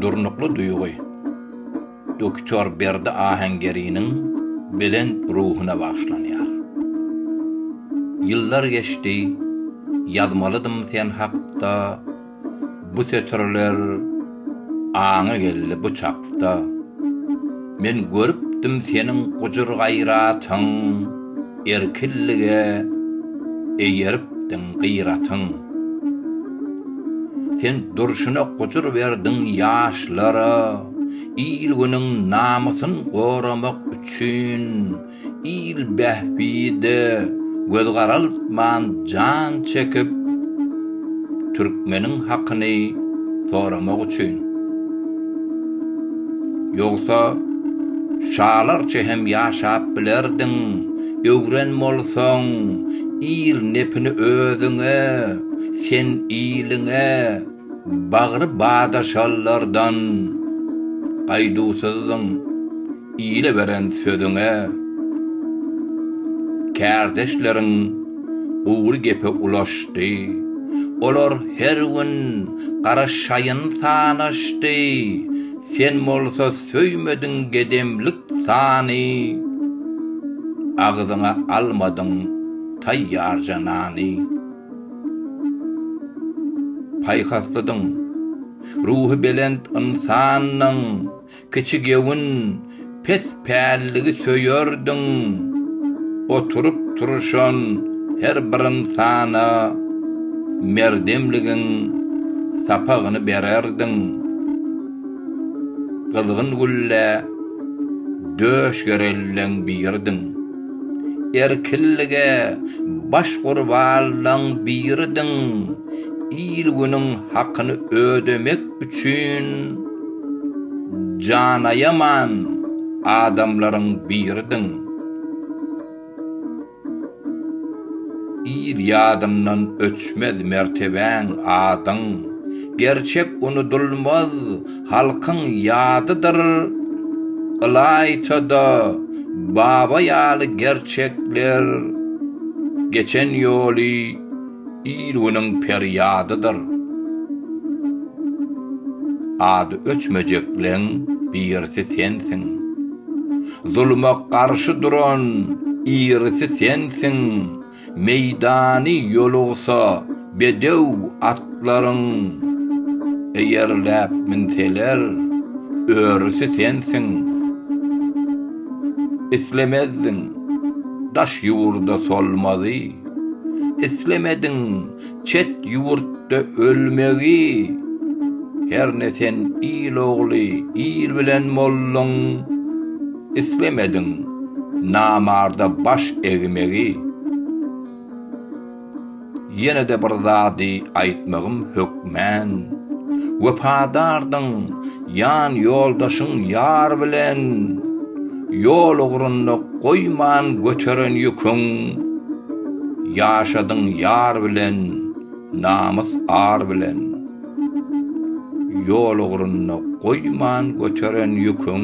Durnukly duýgy. Doktor Berdi Ahengeriniň belent ruhuna bagyşlanýar. Ýyllar geçdi, ýazmalydym sen hakda bu setirler. Aňa geldi bu çakda. Men görüpdim seniň gujur-gaýratyň, Erkinlige eýeripdiň gyratyň. Sen durşuna gujur berdiň ýaşlara, Il-günüň namysyn goramak üçin. il bähbide göz garaltman jan çekip, türkmeniň hakyny soramak üçin. Ýogsa, şalarça hem ýaşap bilerdiň, öwren bolsaň, il nepini özüňe, sen iliňe bagry badaşalardan gaýduwsyzdyň. Ile beren sözüňe kärdeşleriň gury gepe ulaşdy. Olar her gün garaşaýyn sanaşdy. Sen bolsa söýmediň gedemlik sany, agzyňa almadyň taýýarja nany. Paýhaslydyň, ruhy belent ynsandyň. Kiçigöwün, pes pälligi söýerdiň. Oturyp-turşan her bir ynsana merdemligiň sapagyny bererdiň. Gyzgyn gülle döş gerelden biridiň. Erkinlige baş gurbanlaň biridiň. Il-günüň hakyny ödemek üçin janaýaman adamlaryň biridiň. Il ýadyndan öçmez mertebäň, adyň. Gerçek unudylmaz halkyň ýadydyr. Ylaýta-da Baba ýaly gerçekler geçen ýoly. Il-günüň perýadydyr. Ady öçmejekleň birisi sensiň. Zuluma garşy duran irisi sensiň, Meýdany ýolugsa bedew atlaryň. Eýerläp münseler, örüsi sensiň. Islemezdiň daş ýurda solmazy. Islemediň çet ýurtda ölmegi, Herne sen il ogly, il bilen bolduň. Islemediň namarda baş egmegi. Ýene-de bir zady aýtmagym hökmän, Wepadardyň, Jan ýoldaşyň ýar bilen Ýol ugrunda goýman göteren ýüküň Ýaşadyň ýar bilen Namys ar bilen Ýol ugrunda goýman göteren ýüküň.